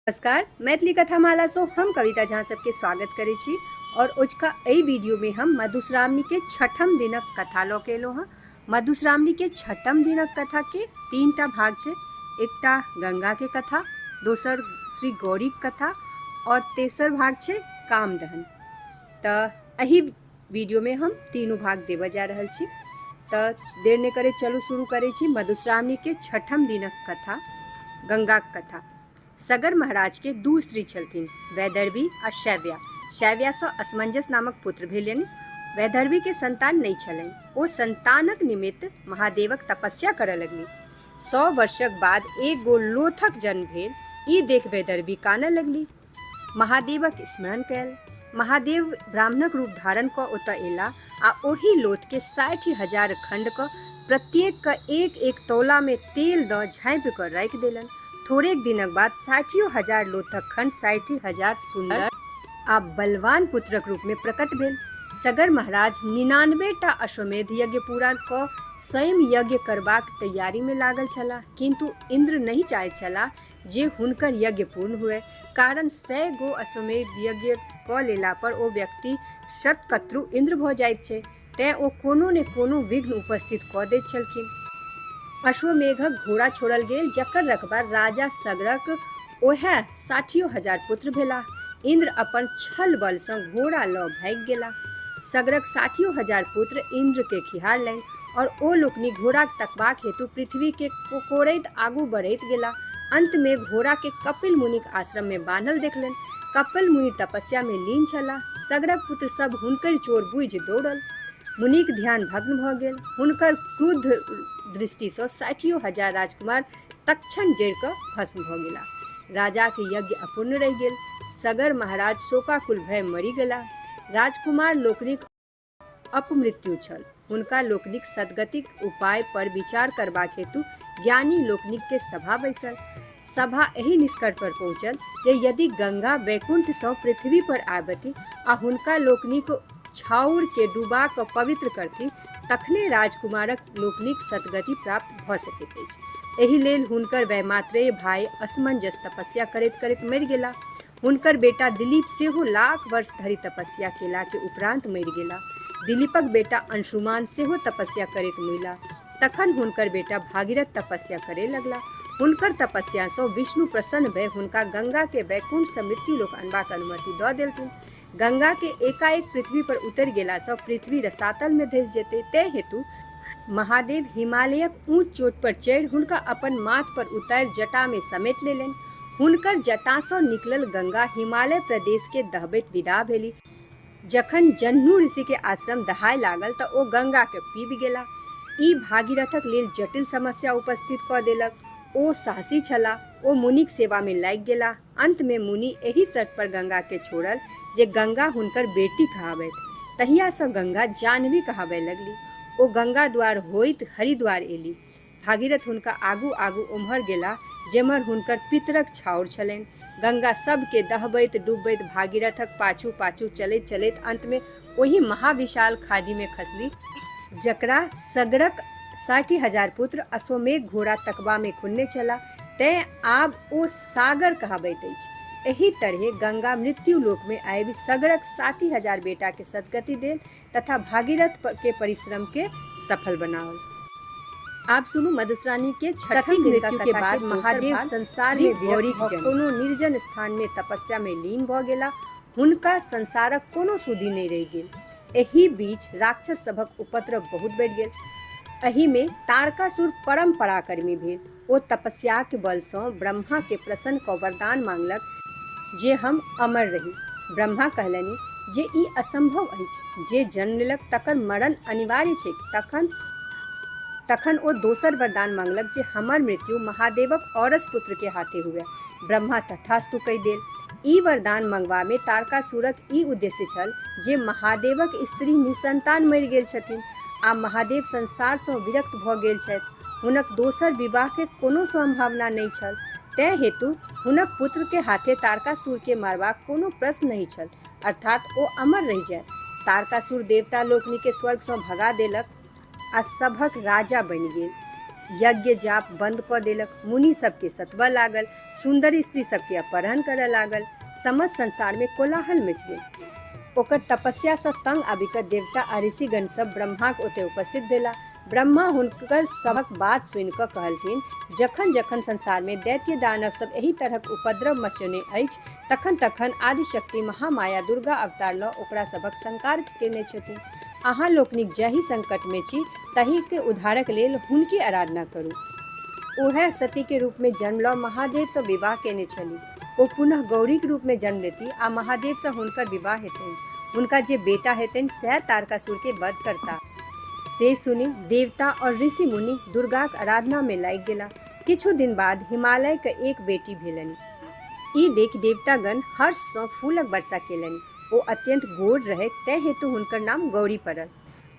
नमस्कार मैथिली कथा माला सो हम कविता झा सबके स्वागत करे छी और ओजका एहि वीडियो में हम मधुश्रावणी के छठम दिनक कथा लऽ के एलहुँ हँ मधुश्रावणी के छठम दिनक कथा के तीन टा भाग छै एकटा गंगा के कथा दोसर श्री गौरी के कथा और तेसर भाग छै कामदहन तऽ एहि वीडियोमे हम तीनू भाग देबऽ जा रहल छी तऽ देर नहि करैत चलू शुरू करै छी मधुश्रावणीके छठम दिनक कथा गंगाक कथा सगर महाराजके दू स्त्री छलथिन वैदर्भी आ शैव्या शैव्यासँ असमंजस नामक पुत्र भेलनि वैदर्भीके संतान नहि छलनि ओ संतानक निमित्त महादेवक तपस्या करऽ लगली सौ वर्षक बाद एक गो लोथक जन्म भेल ई देख वैदर्भी कानऽ लगली महादेवक स्मरण कयल महादेव ब्राह्मणक रूप धारण कऽ ओतय एला आ ओहि लोथके साठि हजार खण्ड कऽ प्रत्येक कऽ एक एक तौला में तेल दऽ झाँपि कऽ राखि देलन थोड़ेक दिनक बाद साठियो हजार लोथक खण्ड साठि हजार सुन्दर आ बलवान पुत्रक रूप में प्रकट भेल सगर महाराज निनानबे टा अश्वमेध यज्ञ पूरा कऽ स्वयं यज्ञ करबाक तैयारी में लागल छलाह किन्तु इन्द्र नहि चाहैत छलाह जे हुनकर यज्ञ पूर्ण हुए कारण सय गो अश्वमेध यज्ञ कऽ लेला पर ओ व्यक्ति शतकत्रु इंद्र भऽ जाइत छै तेँ ओ कोनो ने कोनो विघ्न उपस्थित कऽ दैत छलखिन अश्वमेघक घोड़ा छोड़ल गेल जकर रकबा राजा सगरक ओहे साठियो हजार पुत्र भेलाह इंद्र अपन छल बलसँ घोड़ा लऽ भागि गेलाह सगरक साठियो हजार पुत्र इंद्रकेँ खिहारलनि और ओ लोकनि घोड़ाक तकबाक हेतु पृथ्वी के कोकोड़ैत आगू बढ़ैत गेला। अंत में घोड़ा के कपिल मुनिक आश्रम में बान्हल देखलनि। कपिल मुनि तपस्या में लीन छलाह। सगरक पुत्र सब हुनकरि चोर बूझि दौड़ल। मुनिक ध्यान भग्न भ गेल। हुनकर क्रुद्ध दृष्टि सँ साठियो हजार राजकुमार तत्क्षण जरि क भस्म भ गेला। राजाक यज्ञ अपूर्ण रहि गेल। सगर महाराज शोकाकुल भए मरि गेला। राजकुमार लोकनिक। अपमृत्यु छल। हुनका लोकनिक सद्गतिक उपाय पर विचार करबाक हेतु ज्ञानी लोकनिक के सभा बैसल। सभा एहि निष्कर्ष पर पहुँचल जे यदि गंगा वैकुंठ सँ पृथ्वी पर आबथि आ हुनका लोकनिक छाउर के डुबा क पवित्र करथि तखने राजकुमारक लोकनिक सद्गति प्राप्त भ सकैत अछि। एहि लेल हुनकर वैमात्रेय भाय असमंजस तपस्या करैत-करैत मरि गेलाह। हुनकर बेटा दिलीप सेहो लाख वर्ष धरि तपस्या केला के उपरान्त मरि गेला। दिलीपक बेटा अंशुमान सेहो तपस्या करैत मुइला। तखन हुनकर बेटा भागीरथ तपस्या करए लगला। हुनकर तपस्या सँ विष्णु प्रसन्न भए हुनका गंगा के वैकुण्ठ सँ मृत्युलोक अनबाक अनुमति दऽ देलथिन। गंगा के एकाएक पृथ्वी पर उतरि गेला सँ पृथ्वी रसातल मे धसि जेतै तै हेतु महादेव हिमालयक ऊँच चोट पर चढ़ि हुनका अपन माथ पर उतारि जटा मे समेट लेलनि। हुनकर जटा सँ निकलल गंगा हिमालय प्रदेश के दहबैत विदा भेली। जखन जह्नु ऋषि के आश्रम दहाय लागल त ओ गंगा के पीबि गेलाह। ई भागीरथक लेल जटिल समस्या उपस्थित क देलक। ओ साहसी छलाह। ओ मुनिक सेवा मे लागि गेलाह। अन्त मे मुनि एहि शर्त पर गंगा केँ छोड़ल जे गंगा हुनकर बेटी कहाबैथ। तहिया सँ गंगा जाह्नवी कहाबय लगली। ओ गंगा द्वार होइत हरिद्वार एली। भागीरथ हुनका आगू आगू ओम्हर गेलाह जेम्हर हुनकर पितरक छाउर छलैन। गंगा सभ केँ दहबैत डुबबैत भागीरथक पाछू पाछू चलैत चलैत अन्त मे ओहि महाविशाल खाधि मे खसली। जकरा सगरक साठि हजार पुत्र अश्वमेघ घोड़ा तकबा मे खुन्ने छलाह। तैं आब ओ सागर कहाबैत अछि। एहि तरहें गंगा मृत्युलोकमे आबि सगरक साठि हजार बेटाकें सद्गति देल तथा भागीरथकें परिश्रमकें सफल बनाओल। आब सुनू मधुश्रानीकें छठम मृत्युकें बाद महादेव संसारमे विरक्त भऽ कोनो निर्जन स्थानमे तपस्यामे लीन भऽ गेलाह। हुनका संसारक कोनो सुधि नहि रहि गेल। एहि बीच राक्षस सभक उपद्रव बहुत बढ़ि गेल। एहिमे तारकासुर परम पराक्रमी भेल। ओ तपस्याक बलसँ ब्रह्माकेँ प्रसन्न कऽ वरदान माँगलक जे हम अमर रही। ब्रह्मा कहलनि जे ई असम्भव अछि। जे जन्म लेलक तकर मरण अनिवार्य छैक। तखन तखन ओ दोसर वरदान माँगलक जे हमर मृत्यु महादेवक औरस पुत्रकेँ हाथे हुअए। ब्रह्मा तथास्तु कहि देल। ई वरदान मंगबामे तारकासुरक ई उद्देश्य छल जे महादेवक स्त्री निःसंतान मरि गेल छथिन आ महादेव संसारसँ विरक्त भऽ गेल छथि। हुनक दोसर विवाहके कोनो संभावना नहि छल। तैं हेतु हुनक पुत्रके हाथे तारकासुरके मारबाक कोनो प्रश्न नहि छल। अर्थात् ओ अमर रहि जाए। तारकासुर देवता लोकनिकेँ स्वर्गसँ भगा देलक। आ सभक राजा बनि गेल यज्ञ जाप बंद कऽ देलक मुनि सबके सतबऽ लागल सुंदर स्त्री सबके अपहरण करऽ लागल समस्त संसार में कोलाहल मच गेल ओकर तपस्या से तंग आबि कऽ देवता आ ऋषिगण सब ब्रह्माक ओते उपस्थित भेला ब्रह्मा हुनकर सभक बात सुनि कऽ कहलथिन जखन जखन संसार में दैत्य दानव सब एहि तरहक उपद्रव मचने अछि तखन तखन आदिशक्ति महामाया दुर्गा अवतार लऽ ओकरा सभक संकार केने छथिन अहाँ लोकनिक जाहि संकटमे छी ताहिक उद्धारक लेल हुनके आराधना करू। ओएह सतीक रूपमे जन्म लऽ महादेवसँ विवाह कएने छलीह। ओ पुनः गौरीक रूपमे जन्म लेतीह आ महादेवसँ हुनकर विवाह हेतनि। हुनका जे बेटा हेतनि सएह तारकासुरकेँ वध करताह। से सुनि देवता और ऋषि-मुनि दुर्गाक आराधनामे लागि गेलाह। किछु दिन बाद हिमालयकेँ एक बेटी भेलनि। ई देखि देवतागण हर्षसँ फूलक वर्षा केलनि। ओ अत्यन्त गोर रहैथ तैं हेतु हुनकर नाम गौरी पड़ल।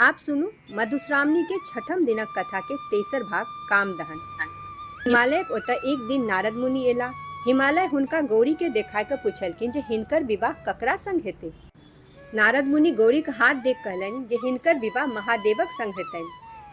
आब सुनू मधुश्रावणी के छठम दिनक कथा के तेसर भाग कामदहन। हिमालयक ओतय एक दिन नारद मुनि एलाह। हिमालय हुनका गौरी के देखाय क पुछलखिन जे हिनकर विवाह ककरा संग हेतै? नारद मुनि गौरीक हाथ देख कहलनि जे हिनकर विवाह महादेवक संग हेतनि।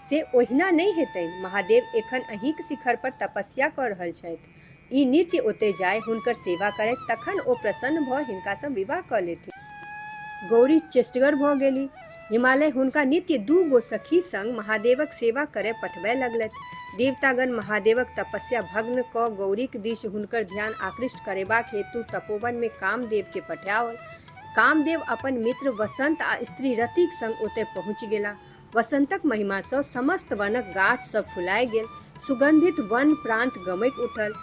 से ओहिना नहि हेतनि। महादेव एखन अहींक शिखर पर तपस्या क रहल छथि। ई नित्य ओतय जाय, हुनकर सेवा करथि, तखन ओ प्रसन्न भऽ हिनका सँ विवाह कऽ लेथिन। गौरी चेष्टगर भऽ गेली। हिमालय हुनका नित्य दू गो सखी संग महादेवक सेवा करय पठबय लगलथि। देवतागण महादेवक तपस्या भग्न कऽ गौरीक दिश हुनकर ध्यान आकृष्ट करेबाक हेतु तपोवन मे कामदेव केँ पठाओल। कामदेव अपन मित्र वसंत आ स्त्री रतिक संग ओतय पहुँचि गेलाह। वसंतक महिमा सँ समस्त वनक गाछ सभ फुलाय गेल। सुगंधित वन प्रांत गमैक उठल।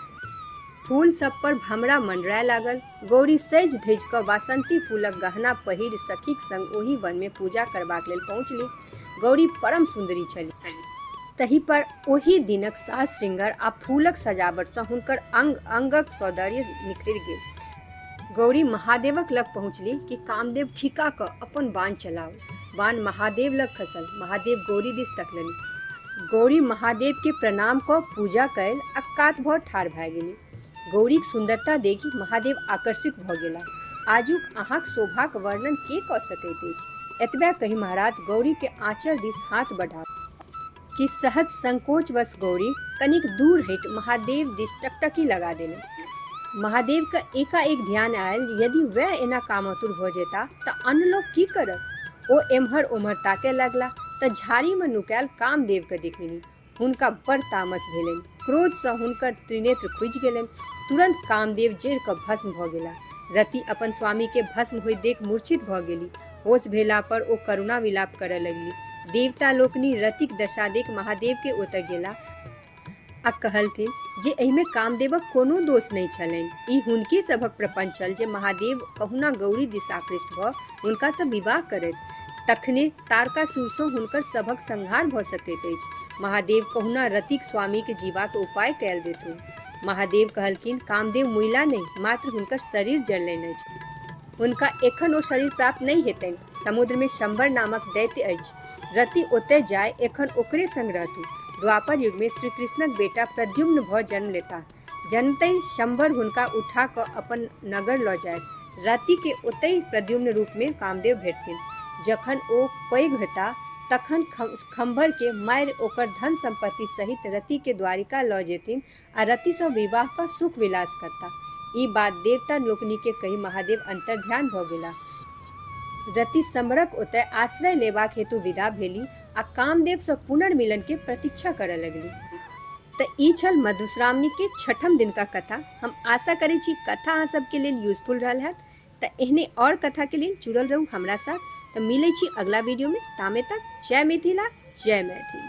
फूल सभ पर भमरा मंडराय लागल। गौरी सजि-धजि कऽ वासंती फूलक गहना पहिरि सखीक संग ओहि वन मे पूजा करबाक लेल पहुँचलि। गौरी परम सुंदरी छलि। तहि पर ओहि दिनक साज-श्रृंगार आ फूलक सजावट सँ हुनकर अंग-अंगक सौदर्य निखरि गेल। गौरी महादेवक लग पहुँचली कि कामदेव ठीका कऽ अपन बाण चलाओ बाण महादेव लग खसल महादेव गौरी दिस तकलनि गौरी महादेव के प्रणाम कऽ पूजा कयल आ कात भऽ ठाढ़ भए गेली गौरीक सुंदरता देखि महादेव आकर्षित भऽ गेला आजुक अहाँक शोभाक वर्णन के कऽ सकैत अछि एतबे कहि महाराज गौरी के आँचल दिस हाथ बढ़ा कि सहज संकोचवश गौरी कनिक दूर हटि महादेव दिस टकटकी लगा देलनि। महादेवकेँ एकाएक ध्यान आयल जे यदि वैह एना कामातुर भऽ जयताह तँ आन लोक की करत? ओ एम्हर-ओम्हर ताकय लगलाह तँ झाड़ीमे नुकायल कामदेवकेँ देखलनि। हुनका बड़ तामस भेलनि। क्रोधसँ हुनकर त्रिनेत्र खुजि गेलनि तुरंत कामदेव जरि कऽ भस्म भऽ गेला रति अपन स्वामीके भस्म होइत देख मूर्छित भऽ गेली होश भेला पर ओ करुणा विलाप करय लगली देवता लोकनि रतिक दशा देख महादेवके ओतय गेला आ कहलथिन जे एहिमे कामदेवक कोनो दोष नहि छलनि ई हुनके सभक प्रपंच छल जे महादेव कहुना गौरी दिशाकृष्ट भऽ हुनकासँ विवाह करैत तखने तारकासुरसँ हुनकर सभक संहार भऽ सकैत अछि महादेव कहुना रतिक स्वामीके जीवाक उपाय कयल देथुन महादेव कहलखिन कामदेव मुइला नहि मात्र हुनकर शरीर जललनि अछि हुनका एखन ओ शरीर प्राप्त नहि हेतनि समुद्रमे शंबर नामक दैत्य अछि रति ओतय जाय एखन ओकरे संग रहतु द्वापर युगमे श्री कृष्णक बेटा प्रद्युम्न भऽ जन्म लेताह जनतहि शम्बर हुनका उठा कऽ अपन नगर लऽ जाएत। रातिके ओतहि प्रद्युम्न रूपमे कामदेव भेटथिन। जखन ओ पैघ हेताह तखन खम्भरके मारि ओकर धन-सम्पत्ति सहित रतिके द्वारिका लऽ जेथिन आ रतिसँ विवाह कऽ सुख-विलास करताह। ई बात देवता लोकनिकेँ कहि महादेव अन्तर्ध्यान भऽ गेलाह। रति शम्बरक ओतए आश्रय लेबाक हेतु विदा भेलीह। आ कामदेव से पुनर्मिलन के प्रतीक्षा करऽ लगली तऽ ई छल मधुश्रावणी के छठम दिन का कथा हम आशा करै छी कथा अहाँ सबके लेल यूजफुल रहल हैत तऽ एहने और कथा के लेल जुड़ल रहू हमरा साथ तऽ मिलै छी अगला वीडियो में तामे तक जय मिथिला जय मैथिली